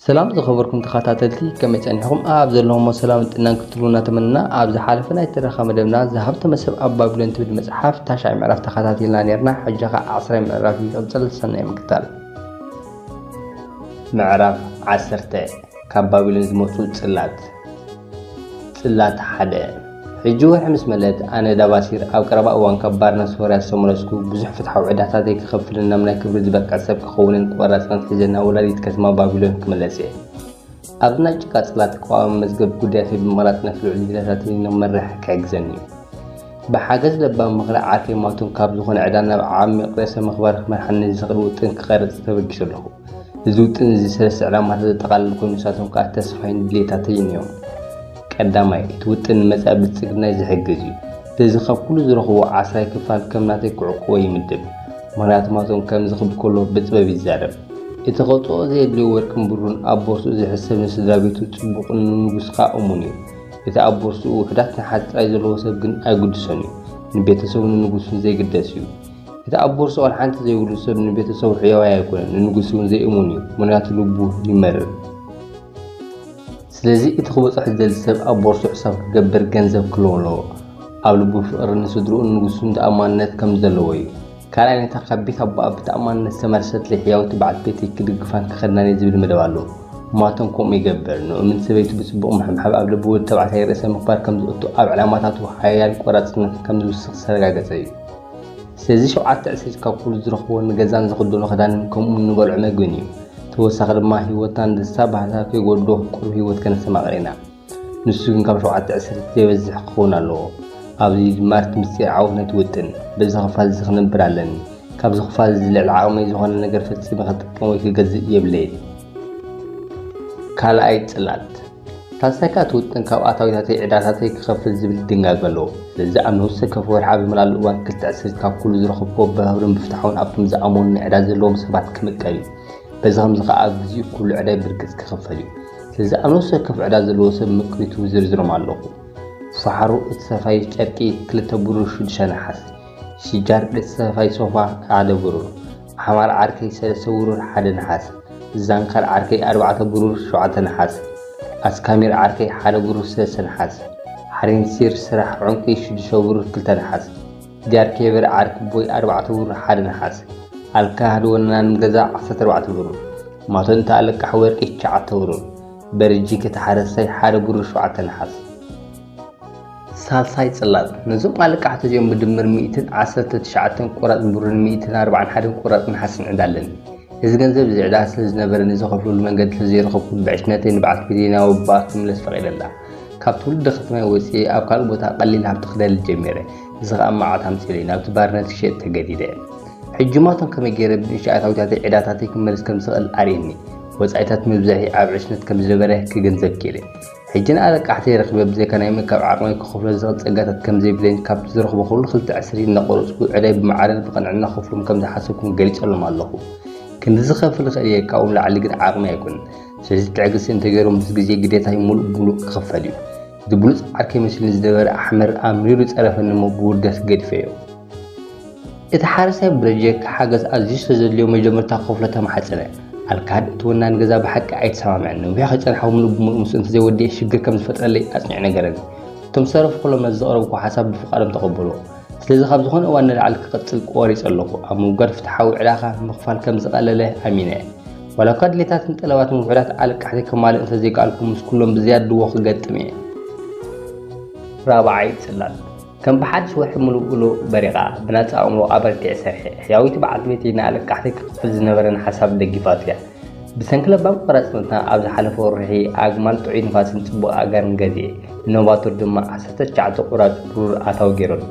ሰላም ዝኸበርኩም ተኸታተልቲ ከመይ ጸኒሕኹም ኣብ ዘለኹሞ ሰላምን ጥዕናን ክትህልዉ እናተመነና ኣብ ዝሓለፈ ናይ ትረኻ መደብና ዝሃብተመ ሰብ ኣብ ባቢሎን ትብል መጽሓፍ ታሽዓይ ምዕራፍ ተኸታቲልና ነርና ሕጂ ኸኣ ዓስራይ ምዕራፍ ይቕጽል ሰናይ ምክታል ምዕራፍ ዓሰርተ ካብ ባቢሎን ዝመጹ ጽላት ጽላት ሓደ ሕጂ ወርሒ ምስ መለት ኣነ ዳባሲር ኣብ ቀረባ እዋን ካብ ባርነት ሶርያ ዝተመለስኩ ብዙሕ ፍትሓዊ ዕዳታተይ ክኸፍልን ናብ ናይ ክብሪ ዝበቅዕ ሰብ ክኸውንን ቆራጽ ጽናት ሒዘ ናብ ወላዲት ከተማ ባቢሎን ክምለስ እየ። ኣብዚ ናይ ጭቃ ጽላት ቀዋሚ መዝገብ ጉዳያተይ ብምቕራጽ ነቲ ልዑል ዲላታተይ ንኽመርሕ ክሕግዘኒ እዩ። ብሓገዝ ለባም ምኽሪ ዓርከይ ማቱን ካብ ዝኾነ ዕዳ ናብ ዓሚቕ ርእሰ-ምኽባር ክመርሓኒ ዝኽእል ውጥን ክቐርጽ ተበጊሱ ኣለኹ። እዚ ውጥን እዚ ሰለስተ ዕላማታት ዘጠቓልል ኮይኑ ንሳቶም ከዓ ተስፋይን ድሌታተይን እዮም። ቀዳማይ፣ እቲ ውጥን ንመጻኢ ብልጽግናይ ዝሕግዝ እዩ። በዚ ካብ ኩሉ ዝረኽቦ ዓስራይ ክፋል ከም ናተይ ክዕቁቦ ይምድብ። ምኽንያቱ ማቶም ከምዚ ክብል ከሎ ብጥበብ ይዛረብ። እቲ ከውጽኦ ዘየድልዮ ወርቅን ብሩን ኣብ ቦርስኡ ዝሕሰብ ንስድራ ቤቱ ጽቡቕን ንንጉስ ከዓ እሙን እዩ። እቲ ኣብ ቦርስኡ ውሑዳት ነሓስ ጥራይ ዘለዎ ሰብ ግን ኣይግድሶን እዩ። ንቤተሰቡን ንንጉሱን ዘይግደስ እዩ። እቲ ኣብ ቦርሳኦን ሓንቲ ዘይብሉ ሰብ ንቤተሰቡ ሕያዋይ ኣይኮነን፣ ንንጉስ እውን ዘይእሙን እዩ፣ ምኽንያቱ ልቡ ይመርር። ስለዚ እቲ ክበጽሖ ዝደሊ ሰብ ኣብ ቦርሳኡ ሕሳብ ክገብር ገንዘብ ክህልዎ ኣለዎ። ኣብ ልቡ ፍቕሪ ንስድርኡን ንጉሱን ተኣማንነት ከም ዘለዎ እዩ። ካልኣይ ነታ ካብ ቤት ኣቦኣ ብተኣማንነት ዝተመርሰት ዘይሕያውቲ በዓልቲ ቤተይ ክድግፋን ክኸድናን እየ ዝብል መደብ ኣሎ። ማቶን ከምኡ ይገብር። ንእሙን ሰበይቱ ብጽቡቕ ምሕብሓብ ኣብ ልቢ ወዲ ተባዕታይ ርእሰ ምኽባር ከም ዘእቱ ኣብ ዕላማታቱ ሓያል ቆራጽነት ከም ዝውስኽ ዝተረጋገጸ እዩ። ስለዚ ሸውዓተ ዕስርት ካብ ኩሉ ዝረኽብዎ ንገዛን ዝኽደኖ ክዳንን ከምኡውን ንበልዖ መግብን እዩ። ተወሳኺ ድማ ህይወትናን ደስታ ባህልና ከይጎድሎ ቁሩብ ህይወት ከነስተማቕር ኢና። ንሱ ግን ካብ ሸውዓተ ዕስርት ዘይበዝሕ ክኸውን ኣለዎ። ኣብዚ ድማ እቲ ምስጢር ዓወት ነቲ ውጥን። በዚ ክፋል እዚ ክነብር ኣለኒ። ካብዚ ክፋል እዚ ልዕሊ ዓቕመይ ዝኾነ ነገር ፈጺመ ክጥቀም ወይ ክገዝእ የብለይን። ካልኣይ ጽላት። ታሰካ እቲ ውጥን ካብ ኣታዊታተይ ዕዳታተይ ክኸፍል ዝብል ድንጋገ ኣለዎ። ስለዚ ኣብ ነውሲ ወከፍ ወርሒ ኣብ ዝመልኣሉ እዋን ክልተ ዕስርት ካብ ኩሉ ዝረኸብኩዎ ብህብርን ብፍትሓውን ኣብቶም ዝኣመኑኒ ዕዳ ዘለዎም ሰባት ክምቀል እዩ። በዚ ከምዚ ከኣ ኣብ ግዚኡ ኩሉ ዕዳይ ብርግጽ ክኽፈል እዩ። ስለዚ ኣብ ነውሲ ወከፍ ዕዳ ዘለዎ ሰብ ምቅቢቱ ዝርዝሮም ኣለኹ። ፋሓሩ እቲ ሰፋይ ጨርቂ ክልተ ብሩር ሽዱሽተ ነሓስ። ሽጃር እቲ ሰፋይ ሶፋ ሓደ ብሩር። ሓማል ዓርከይ ሰለስተ ብሩር ሓደ ነሓስ። ዛንካል ዓርከይ ኣርባዕተ ብሩር ሸውዓተ ነሓስ። ኣስካሚር ዓርከይ ሓደ ብሩር ሰለስተ ነሓስ። ሓሪንሲር ስራሕ ዑንቂ ሽዱሽተ ብሩር ክልተ ነሓስ። ጃርኬበር ዓርኪቦይ ኣርባዕተ ብሩር ሓደ ነሓስ። ኣልካህድ ወናን ገዛ ዓሰርተ ኣርባዕተ ብሩር። ማቶንታ ኣለቃሕ ወርቂ ትሽዓተ ብሩር። በርጂክ እቲ ሓረስታይ ሓደ ብሩር ሸውዓተ ነሓስ። ሳልሳይ ጽላጽ ነዞም ኣለቃሕቲ እዚኦም ብድምር ሚእትን ዓሰርተ ትሽዓተን ቁራጽ ብሩርን ሚእትን ኣርብዓን ሓደን ቁራጽ ነሓስን ዕዳ ኣለኒ። እዚ ገንዘብ እዚ ዕዳ ስለ ዝነበረኒ ዘኸፍለሉ መንገዲ ስለ ዘይረኸብኩ ብዕሽነተይ ንበዓልቲ ቤተይና ወብባ ክምለስ ፈቒደላ። ካብ ትውልዲ ከተማይ ወጺኤ ኣብ ካልእ ቦታ ቀሊል ሃብቲ ክደልል ጀሚረ። እዚ ኸኣ መዓት ኣምጺኡለይ። ናብቲ ባርነት ክሸጥ ተገዲደ። ሕጂማቶም ከመይ ገይረ ብንእሽቶ ኣታዊታተይ ዕዳታተይ ክመልስ ከም ዝኽእል ኣርእየኒ። ወጻኢታት ምብዛሒ ኣብ ዕሽነት ከም ዝነበረ ክግንዘብ ክኢለ። ሕጂ ንኣለቃሕተይ ረኺበ ብዘይካ ናይ ምእካብ ዓቕመይ ክኸፍሎ ዝኽእል ጸጋታት ከም ዘይብለይን ካብቲ ዝረኽቦ ኩሉ ክልተ ዕስርቲት እናቖረጽኩ ዕዳይ ብማዕረን ብቕንዕና ክኸፍሎም ከም ዝሓሰብኩን ገሊጸሎም ኣለኹ። ክንድዚ ክኸፍል እኽእል እየ ካብኦም ላዕሊ ግን ዓቕመይ ኣይኮነን። ስለዚ ትዕግስቲ እንተገይሮም ምስ ግዜ ግዴታይ ምሉእ ብምሉእ ክኽፈል እዩ። እቲ ብሉጽ ዓርከይ መሲሉኒ ዝነበረ ኣሕመር ኣምሪሩ ጸረፈኒ እሞ ብውርደት ገዲፈዮ። እቲ ሓረስታይ ብፕሮጀክት ሓገዝ ኣዝዩ ስለዘድልዮ መጀመርታ ክኸፍሎ ተማሕጸነ። ኣልካድ፣ እቲ ወናኒ ገዛ ብሓቂ ኣይተሰማምዐን፣ ነዊሕ ከይጸንሓዊ ምሉእ ብምሉእ ምስኡ እንተዘይወዲኤ ሽግር ከም ዝፈጥረለይ ኣጽኒዑ ነገረኒ። እቶም ዝተረፉ ኩሎም ነቲ ዘቕረብክዎ ሓሳብ ብፍቓዶም ተቐበልዎ። ስለዚ ካብ ዝኾነ እዋን ንላዕሊ ክቕጽል ቆሪጸ ኣለኹ። ኣብ ምውጋድ ፍትሓዊ ዕዳኻ ምኽፋል ከም ዝቐለለ ኣሚነ። ዋላኳ ድሌታትን ጠለባትን ውሑዳት ኣለቃሕተይ ከማልእ እንተዘይከኣልኩ ምስ ኩሎም ብዝያዳ ድዎ ክገጥም እየ። ራብዓይ ጽላል። ከም ብሓድሽ ወርሒ ምሉእ ብሉእ በሪቓ፣ ብናጻ ኣእምሮ ኣበርቲዐ ሰርሐ። ሕያዊት በዓልቲ ቤተይ ንኣለቃሕተይ ክኽፍል ዝነበረኒ ሓሳብ ደጊፋቶ እያ። ብሰንኪ ለባም ቆራጽነታ ኣብ ዝሓለፈ ወርሒ ኣግማል ጥዑይ ንፋስን ጽቡቕ ኣጋርን ገዚኤ፣ ንኖቫቶር ድማ ዓሰርተ ትሽዓተ ቁራጽ ብሩር ኣታዊ ገይረሉ።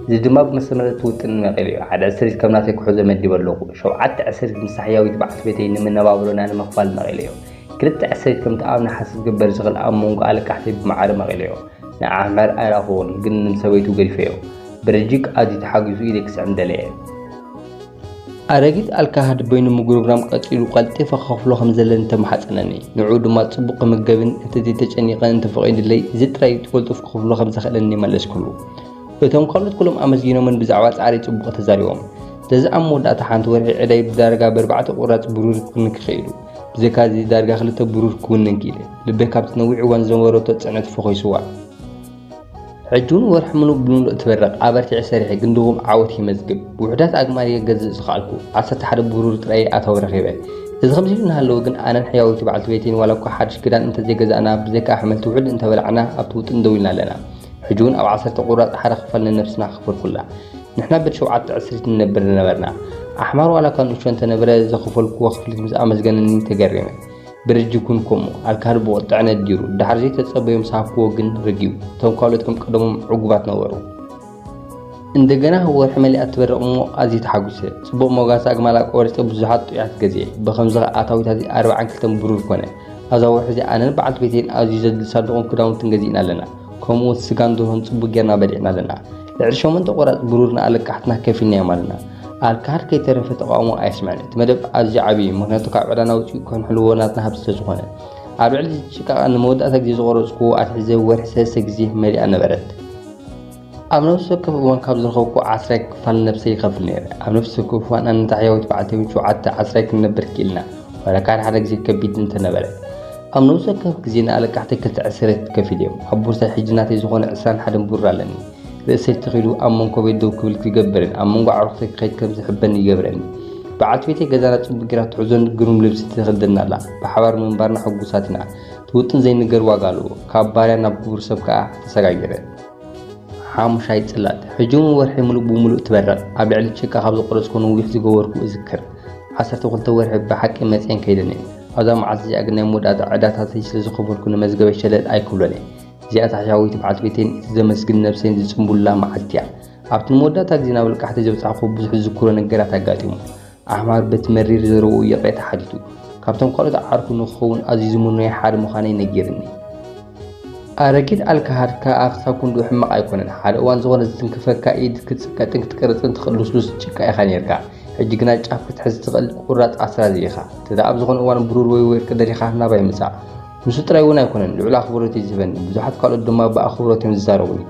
እዚ ድማ ብመሰመረቲ ውጥን መቒሉ እዩ። ሓደ ዕስሪት ከም ናተይ ክሕዞ መዲበ ኣለኹ። ሸውዓተ ዕስሪት ምስታ ሕያዊት በዓልቲ ቤተይ ንመነባብሮና ንምኽፋል መቒለዮ። ክልተ ዕስሪት ከምቲ ኣብ ነሓሰ ዝግበር ዝኽል ኣብ መንጎ ኣለቃሕተይ ብማዕረ መቒለዮ። ንዓመር ኣይረኣኹዎን ግን ንሰበይቱ ገዲፈዮ ብረጂክ ኣዝዩ ተሓጊሱ ኢደይ ክስዕም ደለየ። ኣረጊት ኣልካሃድ በይኑ ምጉርምራም ቀጺሉ ቀልጢፈ ክኸፍሎ ከም ዘለኒ ተማሓጸነኒ። ንዕኡ ድማ ጽቡቕ ክምገብን እንተዘይ ተጨኒቐ እንተ ፈቒዱለይ እዚ ጥራይ ብቕልጡፍ ክኸፍሎ ከም ዘኽእለኒ መለስኩሉ። እቶም ካልኦት ኩሎም ኣመስጊኖምን ብዛዕባ ጻዕረይ ጽቡቕ ተዛሪቦም። ስለዚ ኣብ መወዳእታ ሓንቲ ወርሒ ዕዳይ ብዳርጋ ብኣርባዕተ ቁራጽ ብሩር ክንክኺኢሉ። ብዘይካ እዚ ዳርጋ ክልተ ብሩር ክውንን ክኢለ። ልበይ ካብቲ ነዊሕ እዋን ዝነበረቶ ጽዕነት ፈኾይስዋ። ሕጂ እውን ወርሒ ምሉእ ብምሉእ ትበርቕ። ኣበርቲዐ ሰሪሐ ግን ድኹም ዓወት የመዝግብ። ውሑዳት ኣግማል እየ ክገዝእ ዝኸኣልኩ። ዓሰርተ ሓደ ብሩር ጥራይ እየ ኣታዊ ረኺበ። እዚ ከምዚ ኢሉ እናሃለወ ግን ኣነን ሕያወይቲ በዓልቲ ቤተይን ዋላ እኳ ሓድሽ ክዳን እንተ ዘይገዛእና ብዘይካ ኣሕምልቲ ውሑድ እንተ በላዕና ኣብቲ ውጥን ደው ኢልና ኣለና። ሕጂ እውን ኣብ ዓሰርተ ቁራጽ ሓደ ክፋል ንነብስና ክፈርኩላ። ንሕና ብር ሸውዓተ ዕስሪት ንነብር ዝነበርና ኣሕማር ዋላ እኳ ንእሽቶ እንተነበረ ዘኸፈልኩዎ ክፍሊት ምስ ኣመስገነኒ ተገሪመ። ብር ጅጉን ከምኡ ኣልካል ብቁጥዐ ነዲሩ ድሓር ዘይተጸበዮ ምስ ሃብኩዎ ግን ረጊኡ። እቶም ካልኦት ከም ቀደሞም ዕጉባት ነበሩ። እንደገና ወርሒ መሊኣ ትበርቕ እሞ ኣዝየ ተሓጒሰ። ጽቡቕ ሞጋሰ ኣግማላ ቆሪጸ ብዙሓት ጥዑያት ገዚኤ። ብኸምዚ ከኣ ኣታዊት ኣዚ ኣርብዓን ክልተን ብሩር ኮነ። ኣብዛ ወርሒ እዚኣ ኣነን በዓልቲ ቤተይን ኣዝዩ ዘድሊ ሳንዱቕን ክዳውንትን ገዚእና ኣለና። ከምኡ ስጋን ድሮን ጽቡቅ ጌርና በሊዕና ኣለና ልዕሊ ሸሞንተ ቆራጽ ብሩር ንኣለቃሕትና ከፊልናዮም ኣለና ኣልካር ከይተረፈ ተቃውሞ ኣየስምዐን እቲ መደብ ኣዝዩ ዓብዪ እዩ ምክንያቱ ካብ ዕዳና ውፅኡ ከንሕልዎ ናትና ሃብቲ ስለዝኾነ ኣብ ልዕሊ ጭቃቃ ንመወዳእታ ግዜ ዝቆረፅኩዎ ኣትሒዘ ወርሒ ሰለስተ ግዜ መሊኣ ነበረት ኣብ ነብሲ ወከፍ እዋን ካብ ዝረኸብኩ ዓስራይ ክፋል ነብሰ ይኸፍል ነይረ ኣብ ነብሲ ወከፍ እዋን ኣነታ ሕያዊት በዓልቲ ሸውዓተ ዓስራይ ክንነብር ክኢልና ዋላ ካድ ሓደ ግዜ ከቢድ እንተነበረ ኣብ ነብሲ ወከፍ ግዜ ንኣለቃሕተይ ክልተ ዕስረት ከፊል እየ። ኣብ ቦርሳይ ሕጂ ናተይ ዝኾነ ዕስራን ሓደን ብሩር ኣለኒ። ርእሰይ ተኺሉ ኣብ መንኮ ቤት ደው ክብል ክገብርን ኣብ መንጎ ኣዕሩኽተይ ክኸይድ ከም ዝሕበንን ይገብረኒ። በዓልቲ ቤተይ ገዛና ጽቡቕ ጌራ ትሕዞን ግሩም ልብሲ ተኸድደና ኣላ። ብሓባር ምንባርና ሕጉሳት ኢና። እቲ ውጥን ዘይንገር ዋጋ ኣለዎ። ካብ ባርያ ናብ ክቡር ሰብ ከኣ ተሰጋጊረ። ሓሙሻይ ጽላት፣ ሕጂ'ውን ወርሒ ምሉእ ብምሉእ ትበርቕ። ኣብ ልዕሊ ጭቃ ካብ ዝቖረጽኩዎ ነዊሕ ዝገበርኩ እዝክር። ዓሰርተ ክልተ ወርሒ ብሓቂ መጺኤን ከይደን እየን። ኣብዛ መዓልቲ እዚኣ ግን ናይ መወዳእታ ዕዳታተይ ስለ ዝኸፈልኩ ንመዝገበይ ሸለል ኣይክብሎን እየ። እዚኣ ታሕሻዊት በዓልቲ ቤተይን እቲ ዘመስግን ነብሰይን ዝጽንቡሉላ መዓልቲ እያ። ኣብቲ ንመወዳእታ ግዜ ናብ ልቃሕተይ ዘብጻሕኩዎ ብዙሕ ዝዝክሮ ነገራት ኣጋጢሙ። ዓሕማር በቲ መሪር ዘረባኡ ይቕሬታ ሓቲቱ። ካብቶም ካልኦት ዓርኩ ንኽኸውን ኣዝዩ ዝምኖዮ ሓደ ምዃነይ ነጊሩኒ። ኣረጊት ኣልካሃድካ ኣፍታ ኩንዱ ሕማቅ ኣይኮነን ሓደ እዋን ዝኾነ ዝትንክፈካ ኢድ ክትጽቀጥን ክትቅርጽን ትኽእል ልስሉስ ጭቃ ኢኻ ኔርካ ሕጂ ግና ጫፍ ክትሕዝ ትኽእል ቁራጽ ኣስራዚ ኢኻ እንተ ኣብ ዝኾነ እዋን ብሩር ወይ ወርቂ ደሊኻ ናባይ ምጻእ ንሱ ጥራይ እውን ኣይኮነን ልዑል ኣኽብሮት እዩ ዝህበኒ ብዙሓት ካልኦት ድማ ብኣኽብሮት እዮም ዝዛረቡኒ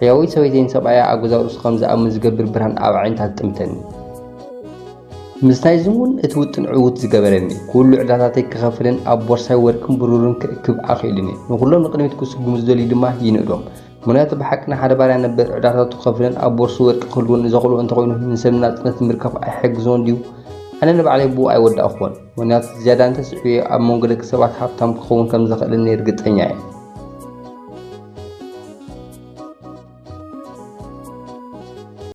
ሕያወይቲ ሰበይተይን ሰብኣያ ኣብ ገዛ ርእሱ ከም ዝኣምን ዝገብር ብርሃን ኣብ ኣዒንታ ትጥምተኒ ምስታይ ዝሙን እቲ ውጥን ዕውት ዝገበረኒ፣ ኩሉ ዕዳታተይ ክኸፍልን ኣብ ቦርሳይ ወርቅን ብሩርን ክእክብ ኣኽኢሉኒ። ንኹሎም ንቕድሚት ክስጉሙ ዝደልዩ ድማ ይንእዶም። ምኽንያቱ ብሓቂ ንሓደ ባርያ ነበር ዕዳታቱ ክኸፍልን ኣብ ቦርስኡ ወርቂ ክህልዎን ዘኽእሎ እንተኾይኑ ንሰብ ንናጽነት ንምርካብ ኣይሕግዞን ድዩ? ኣነ ንባዕለይ ብኡ ኣይወዳእኩዎን። ምኽንያቱ ዝያዳ እንተስዒበዮ ኣብ መንጎ ደቂ ሰባት ሃብታም ክኸውን ከም ዘኽእለኒ ርግጸኛ እየ።